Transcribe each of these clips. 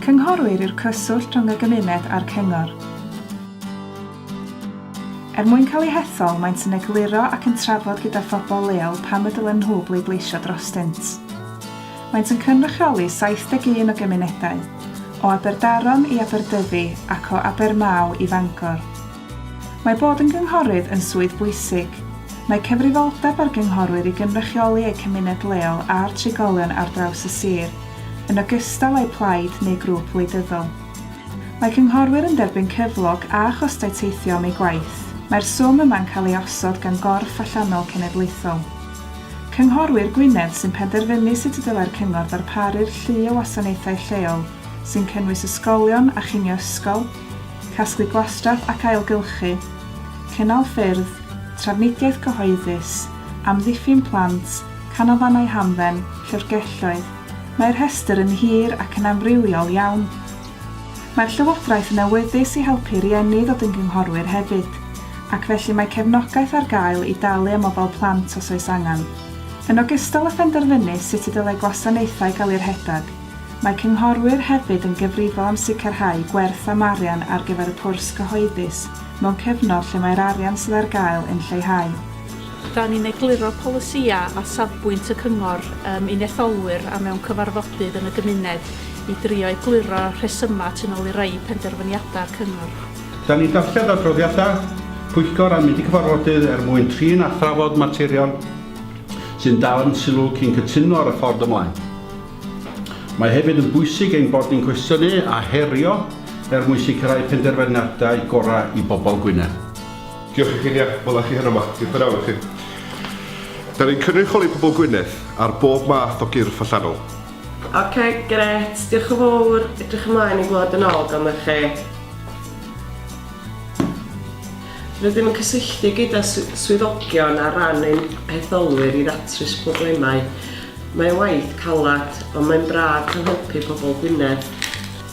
Cynghorwyr yw'r cyswllt rhwng y gymuned a'r cyngor. Er mwyn cael eu hethol, maent yn egluro ac yn trafod gyda phobl leol pam y dylen nhw bleidleisio drostynt. Maent yn cynrychioli 71 o gymunedau, o Aberdaron i Aberdyfi ac o Abermaw i Fangor. Mae bod yn gynghorydd yn swydd bwysig. Mae cyfrifoldeb ar gynghorwyr i gynrychioli eu cymuned leol a'r trigolion ar draws y sir, yn ogystal â'u plaid neu grŵp wleidyddol. Mae cynghorwyr yn derbyn cyflog a chostau teithio am eu gwaith. Mae'r swm yma'n cael ei osod gan gorff allanol cenedlaethol. Cynghorwyr Gwynedd sy'n penderfynu sut y dylai'r cyngor ddarparu'r llu o wasanaethau lleol, sy'n cynnwys ysgolion a chinio ysgol, casglu gwastraff ac ailgylchu, cynnal ffyrdd, trafnidiaeth gyhoeddus, amddiffyn plant, canolfannau hamdden, llyfrgelloedd, mae'r rhestr yn hir ac yn amrywiol iawn. Mae'r Llywodraeth yn awyddus i helpu rhieni ddod yn gynghorwyr hefyd, ac felly mae cefnogaeth ar gael i dalu am ofal plant os oes angen. Yn ogystal â phenderfynu sut y dylai gwasanaethau gael eu rhedeg, Mae cynghorwyr hefyd yn gyfrifol am sicrhau gwerth am arian ar gyfer y pwrs cyhoeddus mewn cyfnod lle mae'r arian sydd ar gael yn lleihau. Dan ni'n egluro polisïau a safbwynt y cyngor yym i'n etholwyr a mewn cyfarfodydd yn y gymuned i drio egluro rhesymau tu nôl i rai penderfyniadau'r cyngor. Dan ni'n darllen adroddiadau pwyllgor a mynd i cyfarfodydd er mwyn trin a thrafod materion sy'n dal ein sylw cyn cytuno ar y ffordd ymlaen. Mae hefyd yn bwysig ein bod ni'n cwestiynu a herio er mwyn sicrhau penderfyniadau gorau i bobl Gwynedd. Diolch i chi'n iach, wela chi heno ma. Diolch yn fawr i chi. Da ni'n cynrychioli pobl Gwynedd ar bob math o gyrff allanol. Ok, grêt, diolch yn fawr, edrych ymlaen i glywed yn ôl ganddoch chi. Rydym yn cysylltu gyda swyddogion ar ran ein hetholwyr i ddatrys problemau. Mae waith calad, ond mae'n braf cael helpu pobl Gwynedd.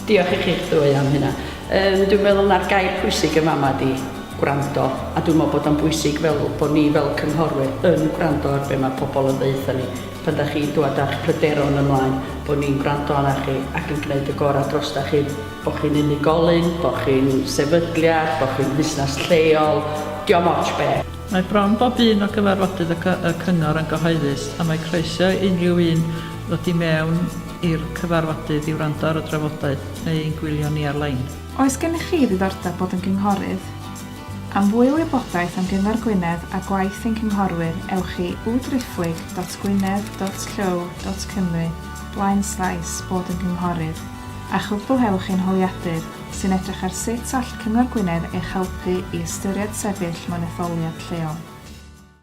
Diolch i chi'ch ddwy am hynna. Yym, dwi'n meddwl na'r gair pwysig yn fama ydi gwrando, a dwi'n meddwl bod o'n bwysig fel bod ni fel cynghorwyr yn gwrando ar be mae pobl yn ddeud wrthon ni. Pan da chi'n dŵad â'ch pryderon ymlaen, bod ni'n gwrando arna chi ac yn gwneud y gorau drosta chi, bod chi'n unigolyn, bod chi'n sefydliad, bod chi'n fusnes lleol, diom ots be. Mae bron bob un o gyfarfodydd y Cyngor yn gyhoeddus a mae croeso i unrhyw un ddod i mewn i'r cyfarfodydd i wrando ar y drafodaeth neu i'n gwylio ni ar-lein. Oes gennych chi ddiddordeb bod yn gynghorydd? Am fwy o wybodaeth am Gyngor Gwynedd a gwaith ein cynghorwyr ewch i www.gwynedd.llyw.cymru blaenslaes bod yn gynghorydd a chwblhewch ein holiadur. sy'n edrych ar sut all Cyngor Gwynedd eich helpu i ystyried sefyll mewn etholiad lleol.